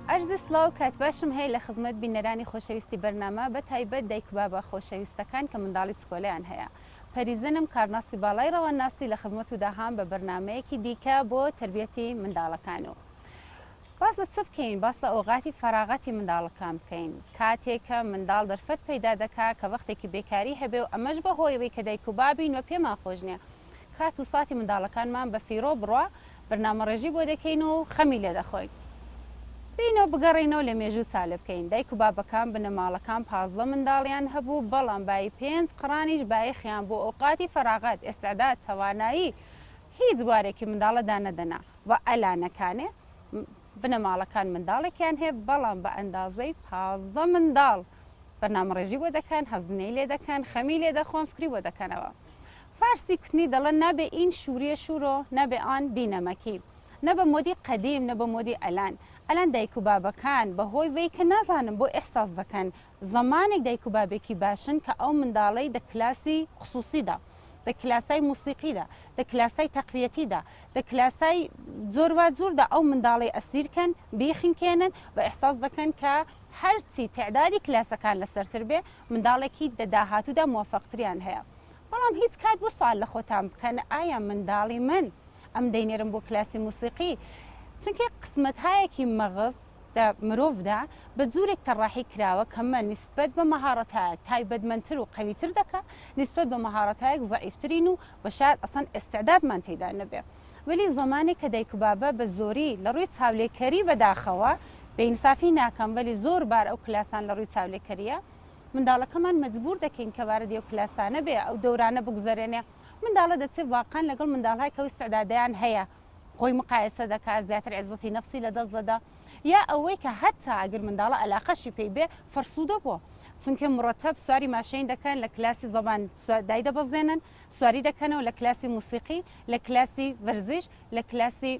عەرزی سڵاو کات باشم هەیە لە خزمەت بینەرانی خۆشەویستی بەرنامە بە تایبەت دایک و بابە خۆشەویستەکان کە منداڵی چکۆلەیان هەیە پەریزنم کارناسی باڵای ڕەوانناسی لە خزمەتودا هام بە بەرنامەیەکی دیکە بۆ تەربیەتی منداڵەکان و باس لە چ بکەین باس لە ئۆغاتی فەراغەتی منداڵەکان بکەین کاتێک کە منداڵ دەرفەت پەیدا دەکا کە وەختێکی بێکاری هەبێ و ئەمەش بە هۆیەوەی کە دایک و بابین و پێمان خۆش نیە کات و ساتی منداڵەکانمان بە فیڕۆ بڕا بەرنامەڕێژی بۆ دەکەین و خەمی لێ دەخۆین. بێینەوە بگەڕێینەوە لە مێژوو چالێ بکەین. دایک و بابەکان، بنەماڵەکان پازدە منداڵیان هەبوو، بەڵام بایی پێنج قڕانیش بایەخیان بۆ ئەوقاتی فەراغەت، ئێستعداد، تەوانایی هیچ بوارێکی منداڵە دانەدەنا و ئەلانەکانێ بنەماڵەکان منداڵێکیان هەیە بەڵام بە ئەندازەی پازدە منداڵ بەرنامەڕێژی بۆ دەکەن، هەزینەی لێ دەکەن، خەمی لێ دەخۆن، فکری بۆ دەکەنەوە. فارسی کوتنی دەڵێن نابێ ئین شوریە شورۆ نابێ ئان بی نەمەکی نە بە مۆدی قەدیم نە بە مۆدی ئەلان ئەلان دایک و بابەکان بە هۆی وەی کە نازانم بۆ ئیحساس دەکەن زەمانێک دایک و بابێکی باشن کە ئەو منداڵەی دە کلاسی خسوسی دا دە کلاسای موسیقی دا دە کلاسای تەقویەتی دا دە کلاسای جۆر وا جور دا ئەو منداڵەی ئەسیر کەن بیخنکێنن بە ئیحساس دەکەن کە هەرچی تەعدادی کلاسەکان لە سەرتر بێ منداڵێکی دە داهاتوو دا موفەق تریان هەیە بەڵام هیچ کات بۆ سوال لە خۆتان بکەن ئایا منداڵی من ئەم دەینێرم بۆ کلاسی موسیقی چونکی قسمەتایەکی مەغز دە مرۆڤدا بە جورێک تەڕاحی کراوە کە مە نیسبەت بە مەهاڕەتایەک تایبەتمەنتر و قەویتر دەکا نیسبەت بە مەهاڕەتایەک زەعیفترین و بە شاید ئەسەن ئێستعدادمان تیدا نەبێ وەلی زەمانێک کە دایک و بابە بە زۆری لە ڕوی چاولێکەری بەداخەوە بێ ئینسافی ناکەم وەلی زۆر بار ئەو کلاسان لە ڕوی چاولێکەریە منداڵەکەمان مەجبوور دەکەین کە وارد ئەو کلاسانە بێ، ئەو دەورانە بگوزەرێنێ. منداڵە دەچێ واقعەن لەگەڵ منداڵهایی کە ئەو ئیستعدادەیان هەیە خۆی مقایەسە دەکا، زیاتر عێزەتی نەفسی لە دەست دەدا. یا ئەوەی کە هەتا ئەگر منداڵە ئەلاقەشی پێی بێ فەرسوودە بۆ. چونکێ مورەتەب سواری ماشێن دەکەن، لە کلاسی زەبان دایدەبەزێنن، سواری دەکەنەوە لە کلاسی موسیقی، لە کلاسی ڤەرزیش، لە کلاسی.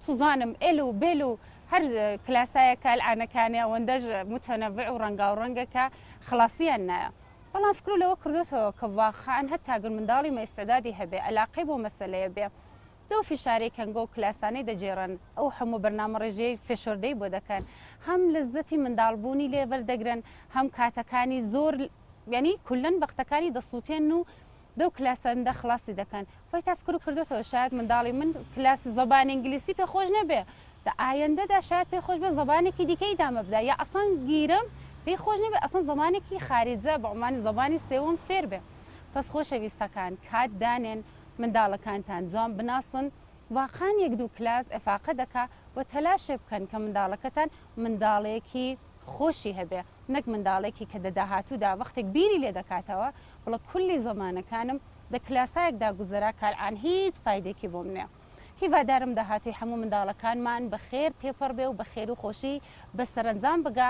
سوزانم ئێل و بێل و هەر کلاسایە کە ئەلعانە کانێ ئەوەندەش متەنەوع و ڕەنگاوڕەنگە کە خڵاسیان نایە. بەڵام فکرو لەوە کردۆتەوە کە واقعەن هەتا گەر منداڵی مەئیستعدادی هەبێ ئەلاقەی بۆ مەسەلەیە بێ لەو فشارەی کەنگەو کلاسانەی دەگێڕن ئەو هەموو بەرنامەڕێژیەی فێشۆردەی بۆ دەکەن هەم لەززەتی منداڵ بوونی لێ وەردەگرن هەم کاتەکانی زۆر یانی کولەن وەختەکانی دەسوتێنن و دو کلاس سەرندە خڵاسی دەکەن. خۆی تافکرو کردۆتەوە شایەد منداڵی من کلاس زبان ئینگلیسی پێ خۆش نەبێ دە ئایەندەدا شایەد پێی خۆش بێ زبانێکی دیکە ی دامە بدا یا ئەسڵەن گیرم پێی خۆش نەبێ ئەسڵەن زبانێکی خاریجە بە عونوانی زبانی سێوم فێر بێ بەس خۆشە ویستەکان کات دانێن منداڵەکانتان جوان بناسن واقان یەک دو کلاس ئێفاقە دەکا وە تەلاشێ بکەن کە منداڵەکەتان منداڵێکی خۆشی هەبێ نەک منداڵێکی کە دە داهاتودا وەختێک بیری لێ دەکاتەوە وەڵا کولی زەمانەکانم دە کلاسایەکدا گوزەرا کالعان هیچ فایدەیەکی بۆم نیە هیڤادارم داهاتوی حەموو منداڵەکانمان بە خێر تێپەڕ بێ و بە خێرو خۆشی بە سەرەنجام بگا.